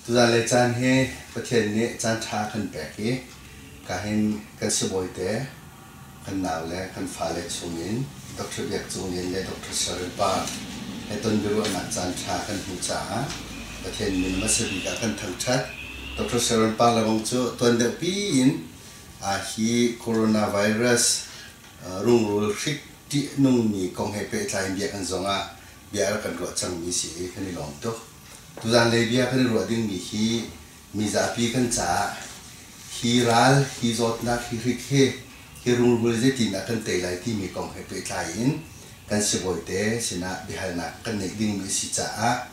Za le caan hi Pathian nih caanṭha kan pek i kahin kan sibawite, kan naule, kan fale chungin Doctor Biak Cung Lian le Doctor Sarin pa he tonbiaruahnak caanṭha kan hmu caah Pathian min hmasa bik ah kan thangṭhat. Doctor Sarin pa lebang cu tuan deuhpi in hi coronavirus rungrul hrik ṭihnungmi kong he pehtlai in bia kan zawng ah bia a rak kan ruah cangmi si i kan i lawm tuk. Tuzaan lei bia kan i ruah dingmi hi mizapi kan caah hi ral, hi zawtnak, hi hrik hi, hi rungrul zeitindah kan tei lai timi kong he pehtlai in kan sibawi-te sinah biahalnak kan neih dingmi a si caah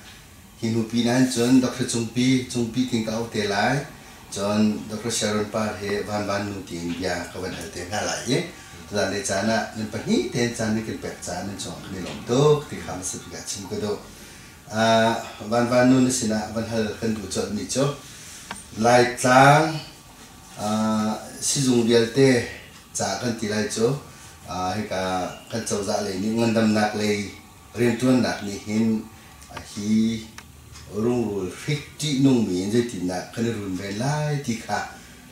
hi hnu pinah hin cun Dr. Cungpi, Cungpi ting ka auh te lai, cun Dr. Sharon Par he Van Van Nu tiin bia ka van hal te hna lai i tuzaan lei caan ah nan pahnih tein caan nan kan pek caah nan cungah kan i lawm tuk ti kha hmasabik ah chim ka duh. Van Van Nun a sinah van hal kan duh colhmi cu Laitlang sizung vialte ca kan ti lai cu hika kan cozah lei nih ngandamnak lei rianṭuannak nih hin hi rungrul hrik ṭihnungmi in zeitindah kan i runven lai ti kha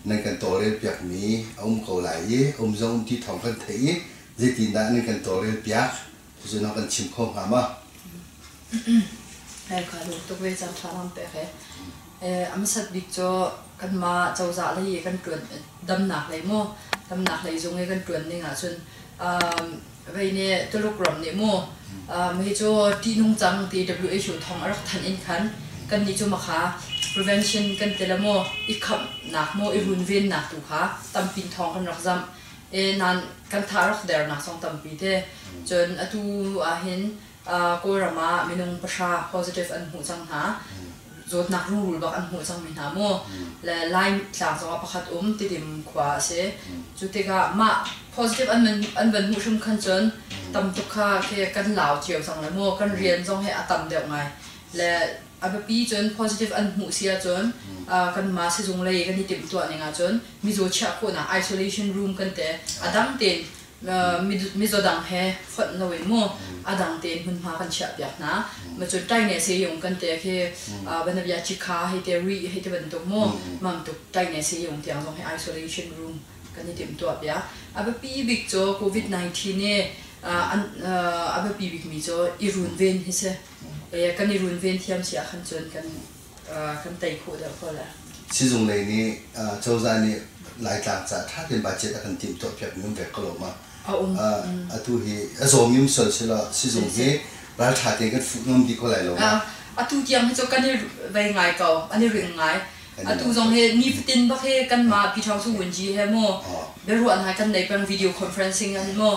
nan kan tawlrel piakmi a um ko lai i um zong um ti thawng kan theih i zeitindah nan kan tawlrel piak Cucu na kan chim kho hnga ma? Kai khah duk tuk ve cang tha lam pek he. Amasat bik cu kanmah cozah lei i kan tuan damnak lei mu damnak lei zung i kan tuan ning ahcun vei ne Tuluk ram nih mu mi cu ti nung cang ti WHO thong a rak thanh in khan kan nih cu makha prevention kan tela mu i khamnak mu i runvennak tu kha tampin thong kan rak zamh nan kan tha rak dernak song tampi te cun atu ah hin kawlram ah minung pahra positive an hmuh cang hna zawtnak rungrul bak an hmuh cang mi hna mu le Lai tlang zong ah pakhat um Tidim khua a si cu tikah mah positive an an van hmuh hrim khan cun tam tuk kha ke kan lau cio cang le mu kan rian zong hi a tam deuh ngai le A biapi cun positive an hmuh si ahcun kanmah sizung lei kan i timhtuah ning ahcun mizaw chiah khawhnak isolation room kan te a dang tein mizaw dang he fonh lo in mu a dang tein hmunhma kan chiah piak hna ma cu taine se yung kan te khi banabia chikha hei te ri hei te bantuk mu mam tuk taine se yung tiang zong he isolation room kan i timhtuah piak a biapi bik cu covid 19 ne a biapi bikmi cu i runven hi si kan i runven thiam si ahkhan cun kan kan tei khawh deuh ko la. Sizung lei nih cozah nih Laitlang caah ṭha tein budget a kan timhtuah piakmi um ve ko lo ma? A um. Atu hi a zawmi um sual selaw sizung hi ralṭha tein kan fuh ngam dih ko lai lo ma? Atu tiang hi cu kan i vei ngai ko, an i ring ngai. Atu zong hi nifatin bak hi kanmah Pi Thang Su Win Ji he mu biaruah hna kan nei peng video conferencing an mu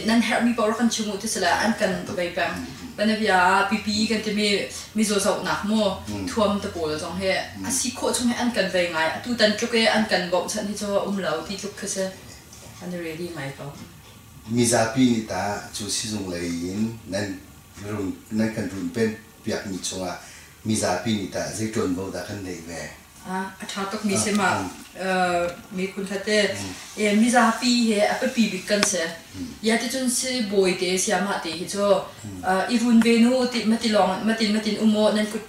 nan herhmi paoh rak kan chim u ti sila an kan bei peng banabia ah pipi kan timi mizaw zohnak mu thuam te pawl zong hi a si khawh chung hi an kan bei ngai atu tan tluk i an kan bauh chan hi cu um lo ti tluk khi si an ready ngai ko mizapi nih tah cu sizung lei in nan run nan kan runpen Biakmi chungah mizapi nih tah zei ṭuanvo dah kan ngeih ve? A ṭha tukmi si ma miphun hlate mizapi he a biapi bik kan si. Iaticun sibawite siamahte hi cu i run ve nu ti matilawng matin matin um u nan kut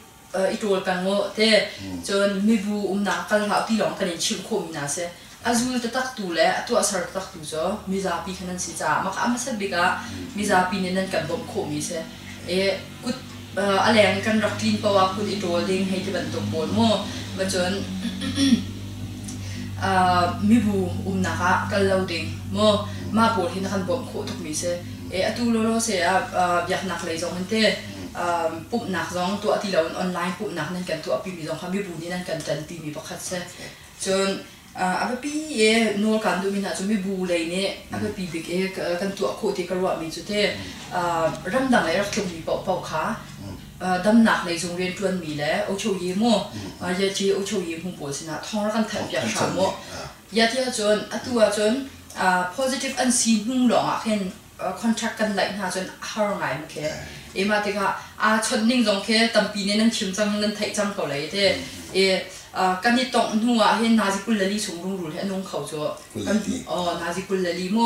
i ṭawl peng u te cun mibu umnak kal hlah ti lawng kan in chimh khawhmi hna a si. A zul taktaktu le a tuahser taktaktu cu mizapi khan an si caah mah kha a hmasat bik ah mizapi nih nan kan bawmh khawhmi a si. I kut a leng kan rak tlin paoh ah kut i ṭawl ding hei ti bantuk pawl mu. Ba cun mibu umnak ah kal lo ding mu. Mah pawl hi na kan bawmh khawh tukmi a si. Atu lawlaw se ah biaknak lei zong in teh pumhnak zong tuah ti loin online pumhnak nan kan tuahpimi zong kha mibu nih nan kan ṭanpimi pakhat si. Cun a biapi i nawl kaan duhmi hna cu mibu lei nih a biapi bik i kan tuah khawh ti ka ruahmi cu te ramdang lei rak tlungmi paohpaoh kha damnak lei zung rianṭuanmi le ucho yi mu yati ucho yi mu pawl sinah thawng rak kan thanh hram u. Yati ahcun atu ahcun positive an si hnu lawngah khin contract kan laih hna cun a har ngai an khi i mah tikah aa chawnh ning zong khi tampi nih nan thim cang nan theih cang ko lei te i kan i tongh hnu ah hin nazi kullali chung rungrul he nung kho cu kan o nazi kullali mu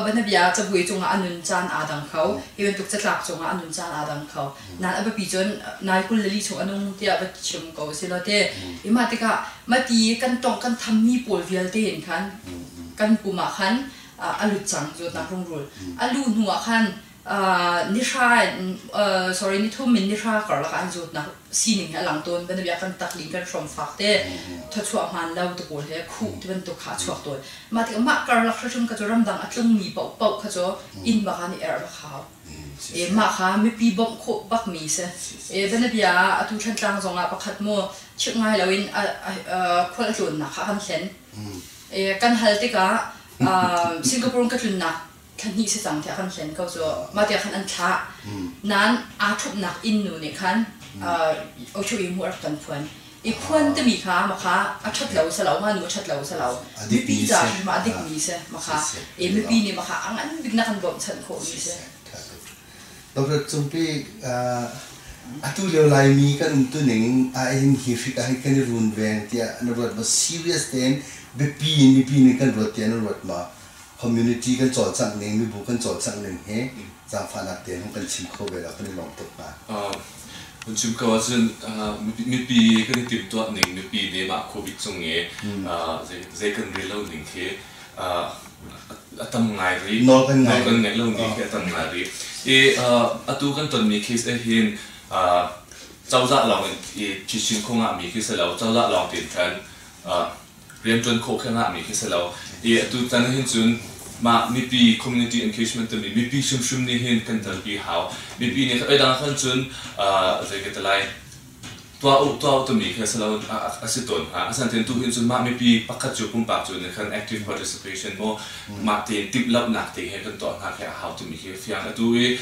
banabia cabui cung ah a nun caan aa dang kho hi bantuk catlak cung ah a nun caan aa dang kho nan a biapi cun nazi kullali chung a nung tiah va chim ko si lo te i mah tikah mati kan tongh kan thammi pawl vialte in khan kan pum ah khan a lut cang cu nak rungrul a lu hnu ah khan nihra sorry nithum in nihra karlak ah an zawt nak sining he a lang tawn banabia kan takling kan hrom fak te thachuah hman lo te pawl he khu ti bantuk kha chuak tawn mah tikah mah karlak hratrum kha cu ramdang a tlungmi pau pau kha cu inn baka nih er bak hau e mah kha mipi bawmh khawh bak mi se e banabia atu thantlang zong ah pakhat mu chip ngai lo in khual a tlawn nak kha kan hlen kan hal tikah Singapore ka tlunnak thlahnih si cang tiah kan hlen ko cu mah tiah khan an thlah nain aa ṭhupnak innnu nih khan ocho i mu a rak kan phuan i phuan timi kha makha a ṭhat lo sa lo manu a ṭhat lo sa lo mipi caah ma a dikmi si makha i mipi nih makha a ngan bik na kan bawmhchanh khawhmi si Doctor Cung Pe, uh, atu lio Laimi kan umtu ning ah hin hi hrik ah hin kan i runveng tiah na ruat maw? Serious tein biapi in mipi nih kan ruat tiah na ruat maw? Community kan cawlcangh ning, mibu kan cawlcangh ning hi zaangfahnak te hong kan chim kho ve lo, kan i lawm tuk hnga. Uh, kan chim ko ahcun uh, mipi kan i timhtuah ning, mipi nemah Covid cung i uh, zei, zei kan rel lo ning khi a tam ngai rih. Nawl kan ngei. Nawl kan ngei lo ni hi a tam ngai rih. I atu kan tonmi case ah hin cozah lawng in i chin khung ah mi khi si lo, cozah lawng tin khan riantuan khawh khang ah mi khi si lo. I atu tan hin cun mah mipi community engagement timi mipi hrimhrim nih hin kan dalpi hau. Mipi nih oi dang khan cun zei ka ti lai tuah u tuah u timi khi a si lo a si tawn hnga. A san tein tuhin cun mah mipi pakhat cu pumpak cu nih khan active participation maw mah tein timhlamhnak te he kan tuah hna khi a hau timi khi fiang a tu i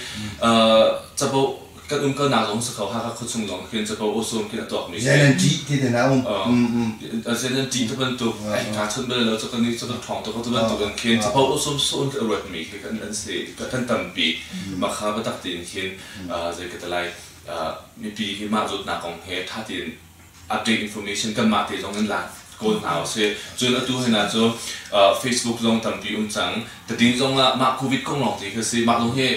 capo kan um kalnak lawng si kho Hakha khuachung lawng khin capo awsawm khin a tuakmi si ZNG ti te na um ZNG te bantuk ai kaa chawnh bal lo cakon ni cakon thawng tuk tu bantuk in khin capo awsawm sawm ka ruatmi khi kan an si kan tampi makha batak tiin khin zei ka talai mipi hi mah zawtnak kong he ṭha tein update information kanmah te zong in la kawl hna usih cun atu hina cu facebook zong tampi um cang tadin zong ah mah covid kong lawng te khi si mah zong hi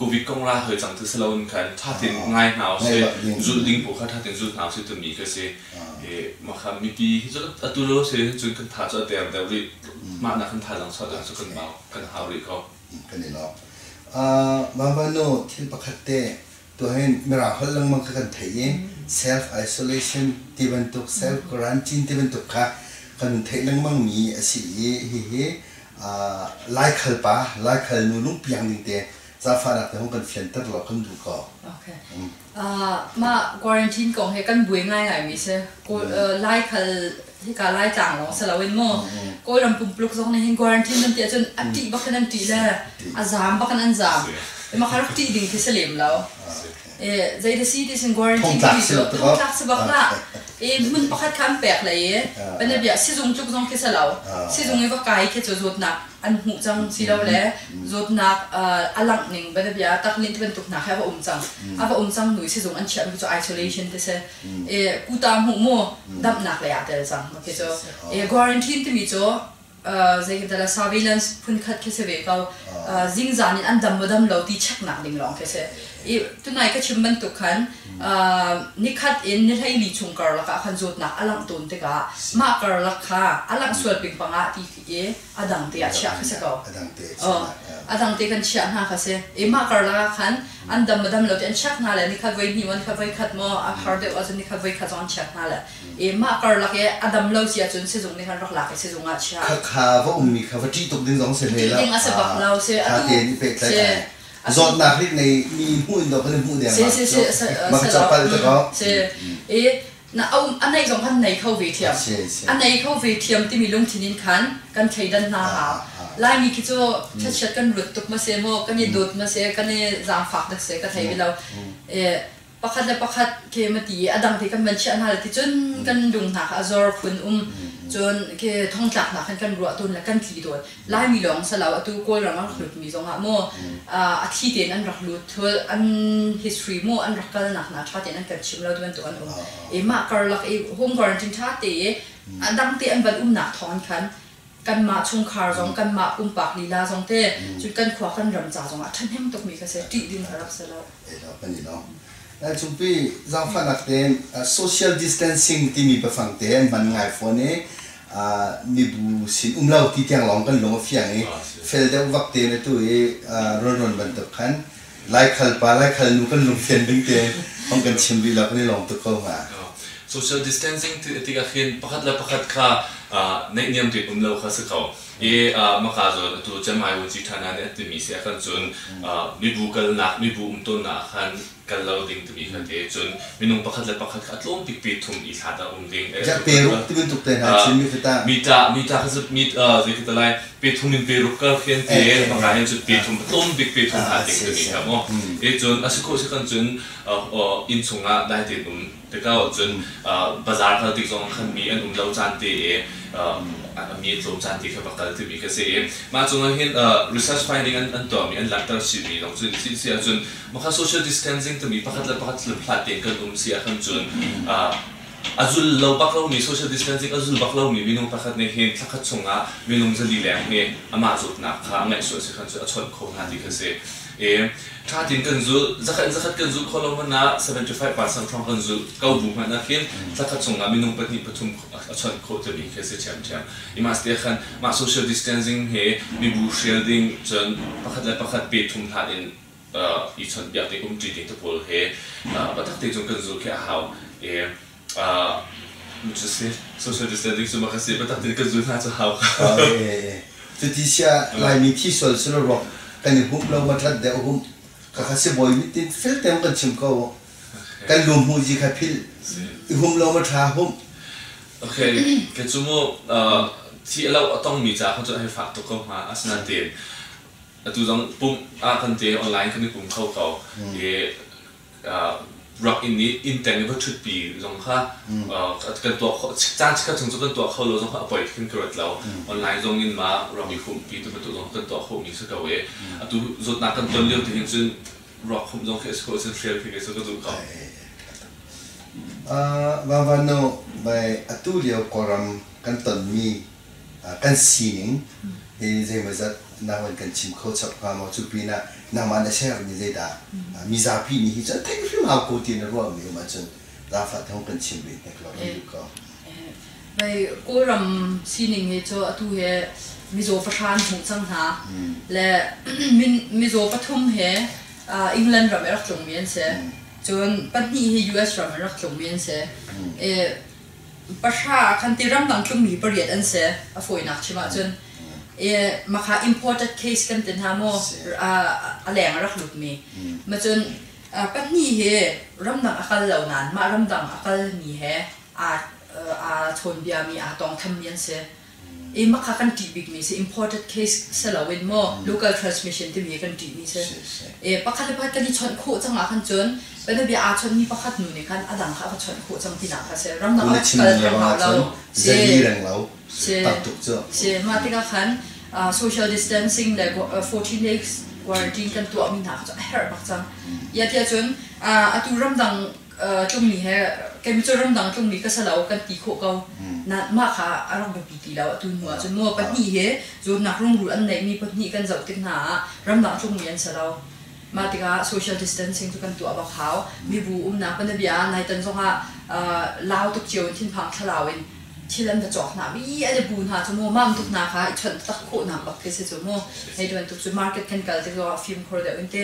covid kong ra hoi cang ti si loin khan ṭha tein ngai hna usih zulh ding poh kha ṭha tein zulh hna usih timi ka si mah kha mipi hi cu atu lo si cun kan tha cu a ter deuh rih mah na kan tha zang sau dang cu kan mau kan hau rih ko kan i lawk. Mabano thil pakhat te, tuhin Mirang holh lengmang kha kan theih i self-isolation ti bantuk, self-quarantine ti bantuk kha kan hun theih lengmang mi a si i hihi Laikhal pa, Laikhal nu lungpiang ding te zafahnak te hong kan fianter law kan duh ko. Okay. Mah quarantine kong hi kan buai ngaingaimi si. Lai khal hika lai tlang lawng si loin mu Kawlram pumpluk zong nih hin quarantine nan ti ahcun a ṭih bak in an ṭih le a zaam bak in an zaam. Makar ṭih ding khi si lem lo. Zei da si ti sin quarantine khi thongtlak si bak la. Hmun pakhat kha an pek le i, biabiah sizung tluk zong khi si lo. Sizung i va kai khi cu zawtnak an hmuh cang silole zawtnak a langh ning bianabia taklin ti bantuk hna kha a va um cang a va um cang nu sizung an chiahmi cu isolation ti si kuta hmuh mu damnak lei ah tel cang okay cu quarantine timi cu zeikatala surveillance phunkhat khi si ve ko zingzan in an dam maw dam lo ti check nak ding lawng khi si i tunai ka chim bantuk khan nikhat in ni hleili chung karlak ah khan zawtnak a langh tawn tikah mah karlak kha a langh sual ping pang ah ti i a dangte ah chiah kha si ko. A dangte chiah. A dangte kan chiah hna kha si. I mah karlak ah khan an dam madam lo te an chiak hna le ni khat voi hnih maw ni khat voi khat maw a har deuh ahcun ni khat voi khat zong an chiak hna le i mah karlak i a dam lo si ahcun sizung nih khan rak lak i sizung ah chiah. Kha va ummi kha va ṭih tuk ding zong si hme la. Ding a si bak lo si. Atu tein i pehtlaih. Zawtnak rik nei mi hmuh in do kan i hmuh deng ma. Si si si. Maka capal te ko. Si. I Na um a neih zong khan nei kho ve thiam. A si, a si. A nei kho ve thiam timi lungthin in khan kan thleidan hna hnga. Laimi khi cu chiatchiat kan lut tuk ma se maw, kan i dawt ma se, kan i zaangfak dak se ka thei ve lo. Pakhat le pakhat ke ma ti i a dang te kan man chiah hna le ticun kan lung hna kha a zor phun um cun ke thongtlak hna khan kan ruah tun le kan tli tawn Laimi lawng silo atu Kawlram an hlutmi zongah mu a thi tein an rak lut thul an history mu an rak kalnak hna tha tein an kan chim lo bantuk an um i mah karlak i home quarantine tha te i a dang te an van umnak thawng khan kanmah chungkhar zong kanmah pumpak lila zong te cun kan khua kan ram ca zongah thahnem tukmi kha se tih ding a rak si lo Eidor kan i lawm. Cungpi zaangfahnak tein social distancing timi biafang te an hman ngai fawn i mibu sin um lo ti tiang lawng kan lung a fiang i fel deuh vak te na tu i ronron bantuk khan laikhal pa laikhal nu kan lungfian ding te hong kan chim rih lo kan i lawm tuk ko hnga. Social distancing ti tikah hin pakhat le pakhat kha neihniam rian um lo kha si ko. Hi Makazawn atu Cemai Wujithana nih a timi si ahkhan cun mibu kalnak, mibu umtuannak ahkhan kal lo ding timi kha ti cun minung pakhat le pakhat kha a tlawm bikmi thum i thla tah um ding. Rak peruk ti bantuk te hna Chin mifa tah. Mi tah, mi tah kha cu mi zeitik te lai pe thum in peruk kar fian te maka hin cun pe thum tlawm bik pe thum hna ding timi kha maw. E cun a si ko si kan cun inn chungah dai tein um Tikau cun bazar kal tik zong khan mi an um lo caan te i mi a tlawm caan te kha va kal timi ka si i mah cungah hin research finding an tuahmi an langhter chihmi lawng cu si si ahcun maka social distancing timi pakhat le pakhat hlat tein kan um si ahkhan cun a zul lo bak lomi social distancing a zul bak lomi minung pakhat nih hin thla khat chungah minung zali leng hi amah zawtnak kha a ngeih sual si khan cu a chawnh kho hna ti ka si i Ṭha tein kan zulh. Zakhat in zakhat kan zulh khawh lo hmanh ah 75 percent hrawng kan zulh ko bu hmanh ah khin thla khat chungah minung pahnih pathum a chawnh khawh timi khi a si ṭhiamṭhiam. Hi mas te ah khan mah social distancing he mibu hrial ding cun pakhat le pakhat pe thum hlan in i chawnhpiak ding, umṭi ding te pawl he biatak te cun kan zulh khi a hau. Cu a si. Social distancing cu makhat si. Biatak tein kan zul hna cu hau kha. Cuti siah Laimi thi sual si lo rua kan i humh lo matlat deuh humh. Kakha sibawi mit tin fel tein kan chim ko. Kan lu hmuhzi kha philh i hum lo ma tha humh. Okay. Kan cu mu thi a lo a tongmi ca kha cu hei fak tuk ko hnga. Asinain tein atu zong pumh ah kan te online kan i pum kho ko. I rak inn i inn teng i va ṭhutpi zong kha kan tuah kho caan chikkhat chung cu kan tuah kho lo zong kha a poi khin ka ruat lo online zong in mah ram i humpi tu bantuk zong kan tuah khomi si ko i atu zawtnak kan ton lio tihin cun ruak khumh zong khi a si ko cun hrial khi ka zumh ko Van Van No bai atu lio kawlram kan tonmi kan sining zeimawzat nakin kan chim kho chap hnga maw cu pin ah nangmah na ser ni zeidah mi zapi ni hi cu thei hrim hau ko ti na ruah mi um ahcun zafa thong kan chim ve hnek lo kan duh ko Bei Kawlram sining hi cu atu he mizaw pahran hmuh cang hna le mizaw pathum he England ram erak tlung mi an si cun pahnih hi US ram erak tlung mi an si pahra kan ti ramdang tlungmi pariat an si a fawinak chim ahcun e makha imported case kan ti hna maw a leng rak lutmi macun pahnih hi ramdang a kal lo nain mah ramdang a kalmi he aa chawnbiami aa tongthammi an si i makha kan ṭih bikmi si imported case si loin maw local transmission timi kan ṭihmi si e pakhat le pakhat kan i chawnh khawh cang ahkhan cun bianabia aa chawnhmi pakhat nu nih khan a dang kha a va chawnh khawh cang tinak kha si ramdang ah kal theng hau lo zali reng lo tam tuk cu si mah tikah khan social distancing le 14 days quarantine kan tuahmi hna kha cu a herh bak cang yati ahcun atu ramdang tlungmi he chemical ramdang tlungmi ka salo kan ti khawh ko na mah kha a rak biapi ti lo atu hnu ahcun nu pahnih he zawtnak rungru an neihmi pahnih kan zoh tik hna ah ramdang tlungmi an si lo mah tikah social distancing cu kan tuah bak hau mibu umnak panabia nai tan zongah lau tuk cio in thinphang thlarau in thil an va cawk hna mi an i bu hna cu mu mam tuk hna kha i chawnh tak khawh nak bak khi si cu mu hei duan tuk cu market kan kal tik zongah fimkhur deuh in te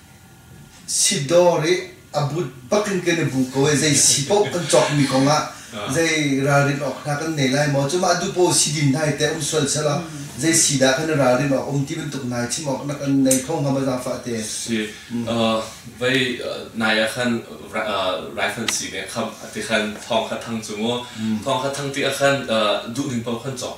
Si dawr i a but bak in kan i bu ko i zei si paoh kan cawkmi kong ah zei ralrin awk hna kan nei lai maw? Cu mah duh paoh si din hna hi teh a um sual sel law zei si dah kan i ralrin awk a um ti bantuk nai chim awk na kan nei kho hnga maw zaangfah te? Si. Vei nai ah khan rifle si nih a khamh a ti khan thawng kha thang cu mu. Thawng kha thang ti ah khan duh ning paoh khan cawk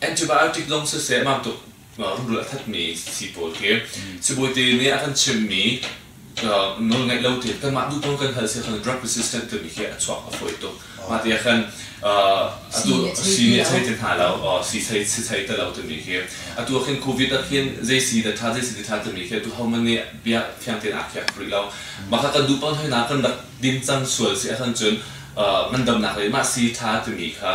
antibiotic zong siseh mah tuk rungrul a thatmi sii pawl khi sibawite nih a kan chimhmi nawlngaih lo te kan mah duh kan hal si khan drug resistant timi khi a chuak a fawi tuk mah te khan atu sii nih a chei te hna lo sii chei si chei te lo timi khi atu khin covid ah khin zei sii da tha zei sii da tha timi khi tu homan nih bia thiang ten a khiak rih lo mah kha kan duh pan hoi na kan rak dim cang sual si a khan cun ngandamnak le mah sii tha timi kha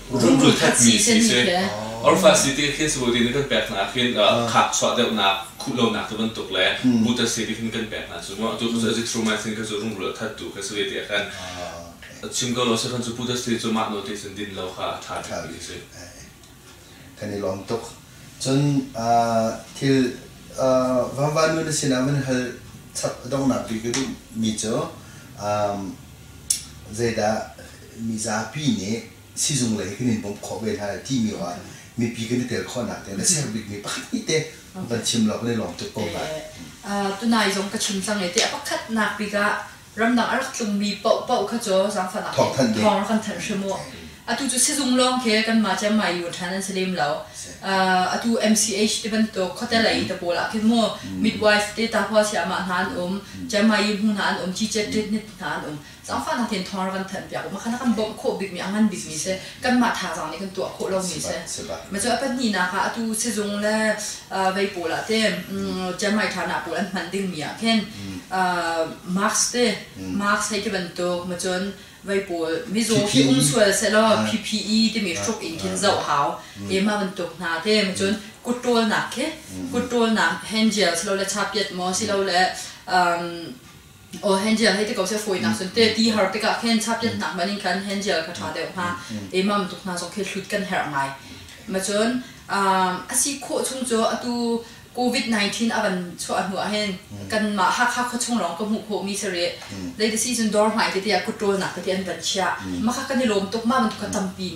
rum cul thatmi si a si. Orfa si ti hin sabu din kan pek hna ah hin khak chuah deuhnak khuh lonak tu bantuk le muta si ti hin kan pek hna cu mu atu ka cu thru ma sin ka cu rum rul that tu ka su ti kan chim ko lo sa kan cu puta si cu mah no ti sin din lo kha a tha mi si kan i lom tuk cun thil vanva nu na sinah van hal chap dongnak bik ka duh mi cu zeidah mizapi nih sizung lei kan in bawmh khawh ve hna lai timi ah mipi kan i tel khawhnak ding a ser bikmi pakhat hnih te kan chim law kan i lawm tuk ko lai. Tunai zong ka chim cang i ti a pakhatnak bik ah ramdang a rak tlungmi paohpaoh kha cu zaangfahnak in thawng rak kan thanh hrim u. Atu cu sizung lawng khi kanmah cu mai yuun ṭhan an si lem lo. Atu MCH ti bantuk khuate lei te pawl ah khi mu midwife te tahual siamah hna an um, Chiang Mai Yu hmu hna an um, Ci Chet Ṭit Hnit hna an um. Zaangfahnak in thawng a kan thanpiak u. Pakhat a kan bawmh khawh bikmi, a ngan bikmi si. Kanmah thazaang nih kan tuah khawh lomi si. Macu a pahnihnak ah atu sizung le vei pawl ah te Ciamai ṭha hna pawl an hman dingmi ah khin marks te, marks hei ti bantuk, macun vei pawl mizaw hi um sual sehlaw PPE timi hruk in khin zoh hau, e ma bantuk hna te, macun kuttawlnak khi, kuttawlnak hand gel silole chapiat maw silole o hangial hei te ko se foi nak sun te ti har te ka khen chap jet nak manin khan hangial ka tha deuh ha e mam tuk na zong khe hlut kan her ngai ma chon asi kho chung cho atu covid 19 avan cho anu ahen kan ma ha kha kho chung long ka mu kho mi sare dai the season dor mai te te ya kutrol nak te an van chia ma kha kan i lom tuk ma ban tu ka tampin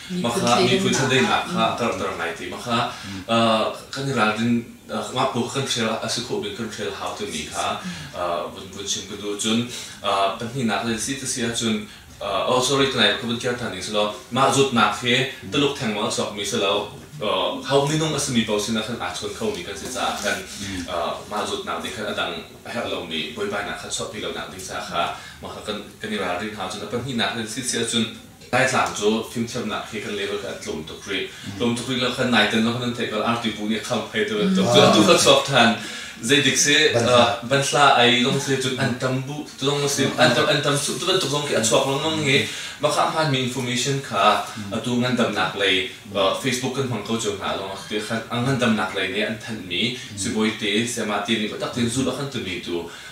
Mahka miphun thadeinak kha a karhter ngai ti mahka kan i ralrin ngakbu kan hrial a si khawh bik kan hrial hau timi kha vun vun chim ka duh cun pahnihnak le si ta si ahcun oh sorry kanai ka vun kir than ding si lo mah zutnak hi tuluk theng mang a chuak mi si lo ho minung a simi paoh sinah khan aa chawn kho mi kan si caah khan mah zutnak nih khan a dang a herh lomi buaibainak kha chuahpi lonak ding ca kha mahka kan i ralrin hau cun a pahnihnak le si si ahcun Laitlang cu fimthiamnak hi kan level kha an tlawm tuk rih. Tlawm tuk rih lo khan nai ten lo khan an theih ko. Arti bu nih khamphei tu bantuk cu atu ka chuak than. Zeidik si banhla ei lawng si cun an tam bu lawng ma si an tam an tam cu bantuk zong khi a chuak lengmang i maka hmaanmi information kha atu ngandamnak lei Facebook kan hmang ko cio hna lawng ti khan a ngandamnak lei nih an thanhmi sibawi te sayamah te nih biatak tein zulh a kan tumi tu